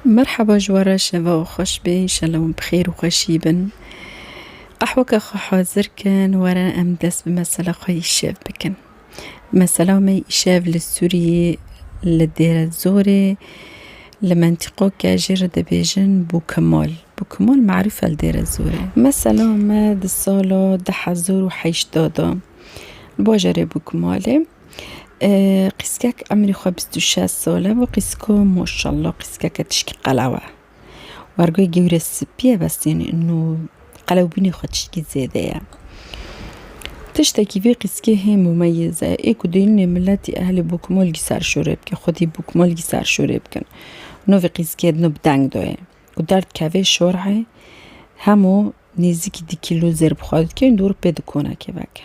Merheba ji we re şeva û xweş be înşela wan bi xêr û xweşî bin. Qehweke xwe hazir kin were em dest bi mesela xwe îşev bikin. Mesela me îşev li Sûriyê li Dêrezorê li mentîqoke jê re dibêjin Bûkimol. Bûkimol maruf e li Dêrezorê. Mesela me di sala du hezar û heştê de bajarê Bûkimolê Qîskek emrî xwe bîst û şeş sal e û qîsko maşallah qîskeke tişkî qelew e. Wergoyê gewre spî ye bes tenê nû qelewbûnê xwe tişkî zêde ye. Tiştekî vê qîskê hê mûmeyîz e. Ê ku dêrînê miletî ehlê bokmalgî serşorê bike, xwedî bokmalgî serşorê bikin. No vê qîskê din bi deng dayê. Ku derd kevê şorê hemo nêzîkî di kîlo zêr bi xwe dike û dor pê di konekê veke.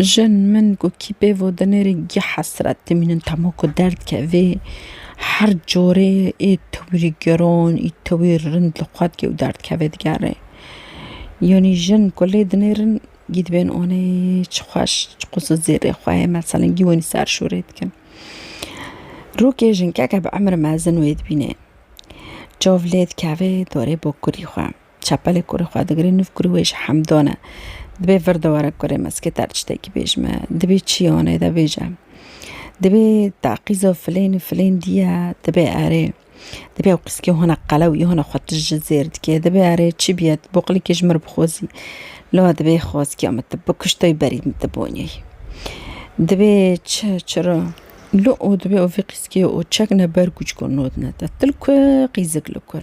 Jin, min ku kî pê vo dinêrî gih hesret dimînin temo ku derd kevê her corê ê tewirî giron ê tewirî rind li xwe dike û derd kevê digere. Yanî jin ku lê dinêrin gî dibên onê çi xweş çi qûsil zêrê xwe ye meselên gî wanî serşorê dikin. Rokê jinkeke bi emir mezin wê dibînê çav lê dikevê dorê bokurî xwe. Çapelê kurê xwe digirê nûv kurê wê ji Hemdon e. Dibê vir de were kurê me zikê te re tiştekî bêj me. Dibê çi ye hûnê de bêje. Dibê taqîza filên û filên dî ye dibê erê. Dibê ew qîskê hûna qelew yê hûna xwe tij ji zêr dikê. Dibê erê çi bîye tu boqlîkê ji min re bixwazî. Lewê dibê xwazkiya min tu bikiş tayî berî min tu bonîyî. Dibê çi çira. Li o dibê ew vê qîskê û çek ne berg û çikur nod ne te. Tu li ku qîzik li kur.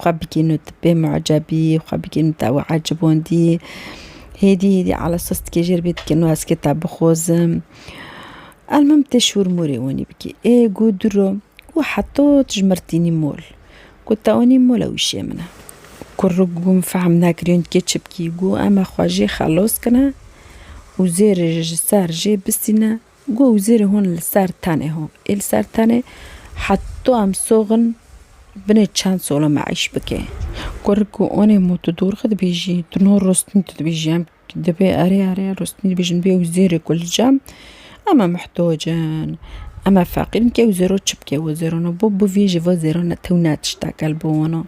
Xwe bigîn û tu bê muecebî, xwe bigîn û te wê ecibondî. Hêdî hêdî ala sos dikê jêr bê dikê nû ez kê te bixwozim. Elmim tê şûr mûrê wanî bikî. Ê gû dûro gû heto tu ji mir tînî mol. Gû te wanî mol ew îşê min e. Kur ru gû min fehm nekiriye hûn dikê çi bikî. Gû em e xwe jê xelos kine û zêrê ji ser jê bisîne. Guh û zîrê hûn li ser tenê ho ê li ser tenê heto em soxin binê çend sola me îş bikê. Gurik û onê mû tu dûr xi dibêjî, tu no rostin tu dibêjî em dibê erê erê rostin dibêjin bê û zêrê ku li cem em e muhtoc in, em e feqîr in kê û zêro çi bikê û zêro no bo bivê ji vo zêro ne tew ne tiştek e li bo wan o.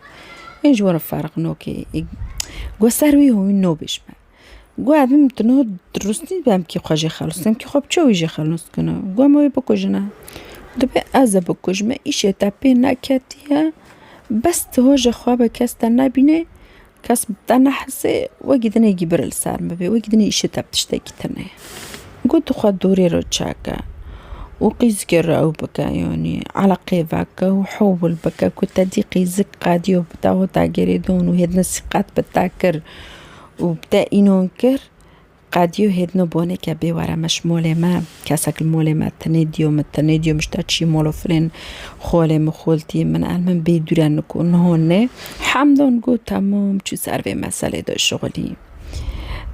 Ê ji wan re ferq no kê. Guh ser wî ho wî nobêj me. Gu ev im tu niha rûstî bemkî xwe jê xelis bimkî xwe bi çawî jê xelis bikina. Gu em wê bikujine. Dibê ez e bikuj me îşê te pê neketiye bes tu hoja xwe be kes te nebînê kes bi te nehisê wekî dinê gî bir li ser min bibê wekî dinê îşê te bi tiştekî tune ye. Gu tu xwe dorê re çeke û qîzikê re ew bike yanî eleqeyê veke û hewil bike ku te dî qîzik qediyo bi te hota gerê dan û hêdin sîqet bi te kir. û bi te înon kir, qediyo hêdino bonê ke bê were me ji molê me, kesek li molê me tenê diyo min tenê diyo min ji te çî mol û firên xolê min xoltiyê min el min bê dûre niko niho nê. Hemdon got temom çû ser vê meselê de şixulî.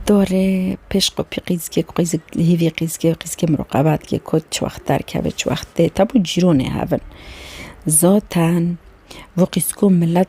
Dorê pêş xwe pî qîzikê ku qîzik li hêvî qîzikê qîzikê min ruqebat kir got çi wext derkeve çi wext tê tebo cîronê hev in. Zaten vê qîziko milet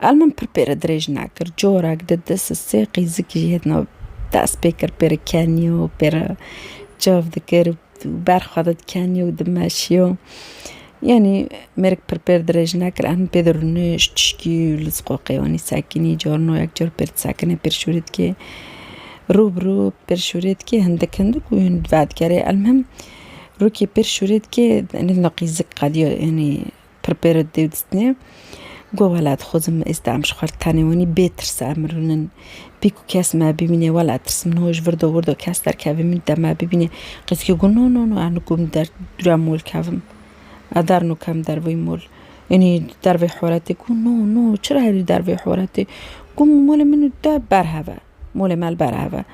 El min pir pêre dirêj nekir. Corek di dis û sê qîzikî jî hêdina dest pê kir pêre keniyo pêre çav dikir û ber xwe de dikeniyo û dimeşiyo. Yanî mêrik pir pêr dirêj nekir em pê de rûnişt tişkî li ziqoqê wanî sekinî carna yek car pêr disekinê pêr şûrê dikê rû bi rû pêr şûrê dikê hindik hindik û vedigerê. El min rûkê pêr şûrê dikê hêdina qîzik qediya yanî Prepared Dewdistnê got, Welat xwezim me êsta em ji xwe re tenê wenî bê tirs em rûnin. Pîk ku kes me bibînê welat tirs min hoj virdo wirdo kes derkevê min de me bibînê. Qîzkê got, No no no ez nikum li der dûra mol kevim. Ez der nukem derveyî mol. Yanî derveyî horetê got, No no çira herî derveyî horetê. Got, Molê min û te berhev e. Molê me li ber hev e.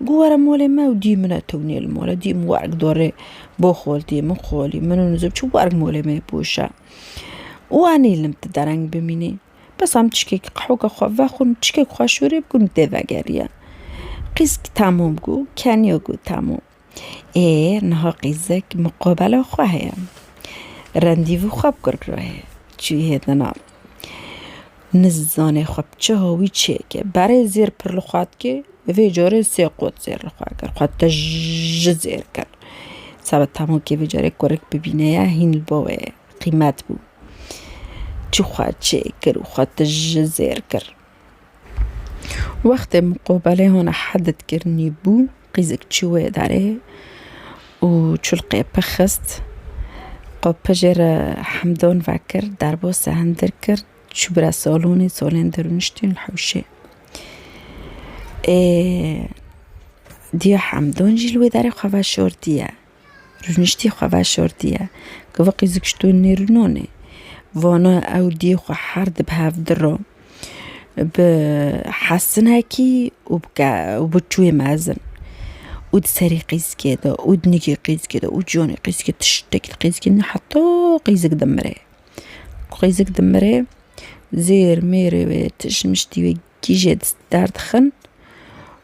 Got were molê me û dî min e tewnî li mol e. Dî min werg dorê bo xoltiyê min xolî min û nizib çi werg molê me pûşe. Û anî li te dereng bimînî. Bes em çikek qehoka xwe vexwin û çikek xwe şûrê bikin û tê vegeriye. Qîz tamûm got, keniya got tamûm. Ê niha qîzek muqabela xwe heye. Rendîvû xwe bi kurk re heye. Çûye dina. Nizane xwe bi çi hawî çêke. Berê zêr pir li xwe dike. Vê carê sê qot zêr li xwe kir. Xwe tij ji zêr kir. Seba temokê vê carê kurik bibîne ye hîn li bo wê qîmet bû. Çû xwe çêkir û xwe tij ji zêr kir. Wextê miqobelê hûna hedit kirinî bû, qîzik çû wê derê û çulqê pir xist. Xwe pir jê re hemdon vekir, derbose hindir kir, çû bire salonê, salên dir rûniştîn li hewşê. Ê diya hemdon jî li wê derê xwe veşartiye. Rûniştî xwe veşartiye ku viqî zikştûn nêrûnon e. Vana ew dî xwe her di bi hev dira bi hesinekî û bi ke û bi çûyê mezin û di serî qîzikê de û di nigê qîzikê de û ciwanê qîzikê tiştekî di qîzikê de heta qîzik dimire. Ku qîzik dimire zêr mêrê wê tişt miştî wê gîjê derdixin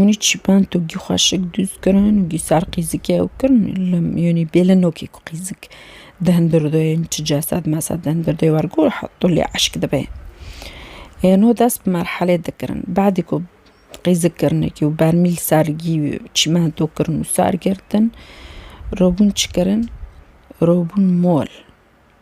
Onî çîpan togî xweşik dûz kirin û dîsar qîzik ew kirin yanî bêle nokê ku qîzik di hundir de ye çi cesed mesed di hundir de ye wer gor tolê eşk dibe. Ê no dest bi merhelê dikirin badê ku qîzik kirine kî û bermî li ser gî çîmento kirin û ser girtin, robûn çi kirin? Robûn mol.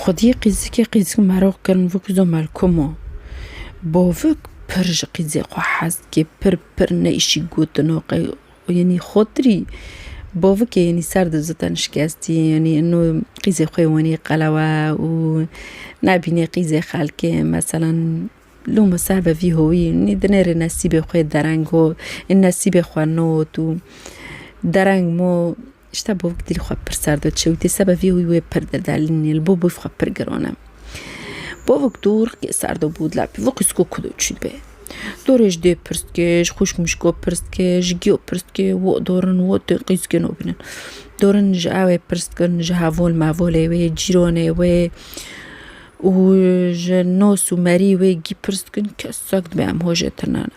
Xwediyê qîzikê qîzik merok kirin vik zo melkum o. Bo vik pir ji qîzê xwe hez dike, pir pir neyşî gotino qey yenî xotirî bo vik e yenî ser di ziten şikestî yenî ino qîzê xwe wenî qelewe û nebîne qîzê xelkê meselan loma ser ve vî howî yenî dinêrê nesîbê xwe dereng got, nesîbê xwe not û dereng mo. Îşta bo wek dîl xwe pir serd û çewt e, seba vî wî wê pir dir da lînê li bo bûy xwe pir giron e. Bo wek du rikê serd û bû dila pî wek îsko ku do çî dibe. Do rê ji dê pirs dike, ji xwîşk mişko pirs dike, ji giyo pirs dike, wo dorin, wo tên qîz dike no bînin. Dorin ji ewê pirs dikin, ji hevol mevolê wê, cîronê wê û ji nos û merî wê gî pirs dikin, kesek dibe em hojê tirnana.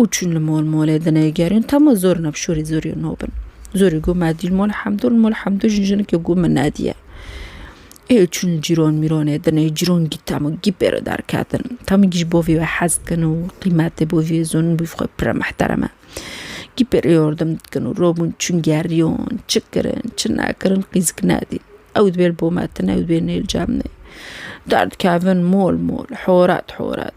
Û çûn li mol molê dinê gerîn tama zor nab şûrî zûrî no bin. Zûrî got me dîl mol hemdû li mol hemdû jin jinekê got min nediye. Ê çûn li cîron mîronê dinê cîron gî tama gî pêre derketin. Tama gî ji bo vî we hez dikin û qîmetê bo vî zûn bî xwe pire mihtereme. Gî pêre yordim dikin û robûn çûn geriyon çi kirin çi nekirin qîzik nedî. Ew divê li bo me tine ew divê nê li cem nê. Derdikevin mol mol horet horet.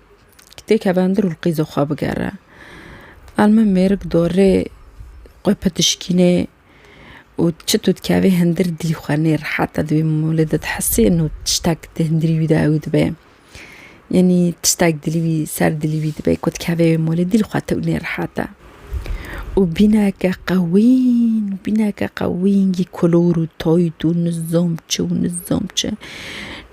Têkeve ndir û qîzo xwe bigere. Al min mêrik dorê xwe pitişkînê û çit û dikevê hindir dî xwe nê rehet e di wî molê de dihesê no tiştek di hindirî wî de ewî dibe. Yanî tiştek dilî wî ser dilî wî dibe ku dikeve wê molê dî li xwe tew nê rehet e. Û bîneke qewîn bîneke qewîn yî kolor û tayt û nizam çi û nizam çi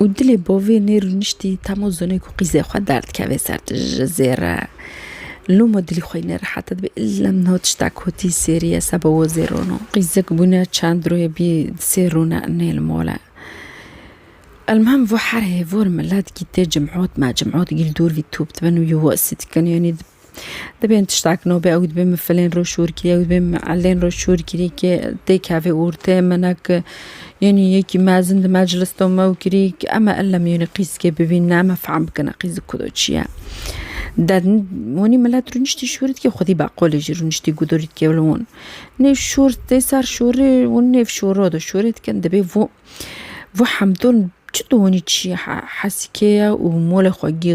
û dilê bovê nê rûniştî tamo zonê ku qîzê xwe derdikevê ser tu ji zêre loma dilî xwe yî nerehet e dibê îlem niha tişta kotî sêrîye seba wo zê rono qîzek bûne çend royê bî di sê rone nê li mal e elmuhim vo her hêvor milet gîtê cimhotme cimhot gîl dûr vî top dibe nû yû wesî dikin yanî Dibên tiştak no be ew dibê min filên roj şûrgirî ew dibê min elên roj şûrgirî kê tê kevê û tê mine ki yênî yekî mezin di meclis to mew kirî ki eme illa min yênî qîzkê bivîn ne eme fehm bikine qîzik ku do çi ye. Der wanî milet rûniştî şûrit kê xwedî beqolê jî rûniştî gudirît kê li wan. Nê şûr tê ser şûrê û nêv şûro do şûrê dikin dibê vû vû hemdûn çi tu wanî çi ye hesikê ye û molê xwe gî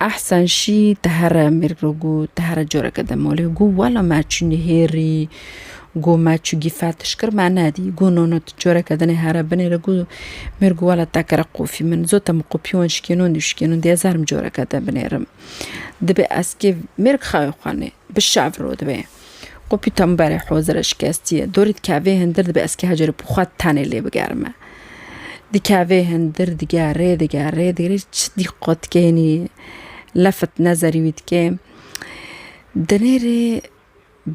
Ehsen şî ti here mêrg re got, ti here careke di malê got wela me çû nihêrî, got me çû gîfer tişt kir me nedî. Got no no tu careke dinê here binê re got mêrg got wela tekere qofî min zota min qopî wan şikênon dî şikênon dî ez herim careke te binêrim. Dibê ez kê mêrg xewê xwe nê bişeviro divê. Xo pîtemberê hozirê şikestiyê dorî dikevê hindir dibe ez kî hecerê pû xwe tenê lê bigerime. Dikevê hindir digerê digerê digerê çi dîqo dikênî lefit nezerî wî dikê. Dinê rê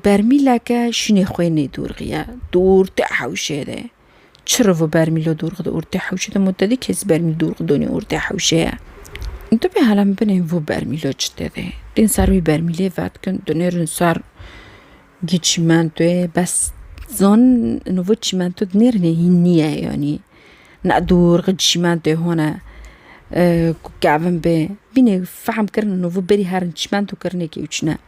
bermîleke şûnê xwê nêdûrxiye dûr ti hewşê rê. Çirov û bermîlo dûrx di ortê hewşê de mû te dî kes bermîl dûrx donî ortê hewşê ye. Tu bê hala min binê vû bermîlo çi te dê. Dên sar wî bermîlê vedikin tu nêrin sar gî çîmentoyê bes zan no vê çîmento di nêrinê hîn nîye yanî ne dûrx di çîmentoyê hone ku kevin bê vînê fehm kirine no vê berî herin çîmento kirinê kewçine.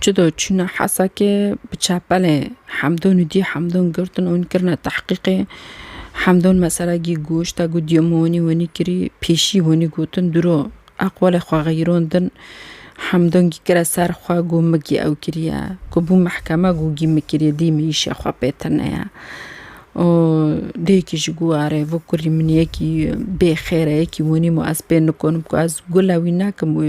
Çi do çûna Hesekê bi çepelê Hemdûn û dî Hemdûn girtin û hûn kirine tehqîqê. Hemdûn mesela gî goşta ku dîya min hûnî hûnî kirî pêşî hûnî gotin dûro eqwelê xwe xeyron din. Hemdûn gî kire ser xwe ku min gî ew kiriye. Ku bû mehkeme ku gî min kiriye dî min îşê xwe pê tune ye. Û dê yekî ji ku arê vê kurî min yekî bê xêr e yekî hûnî ma ez pê nikonim ku ez gule wî nekim wê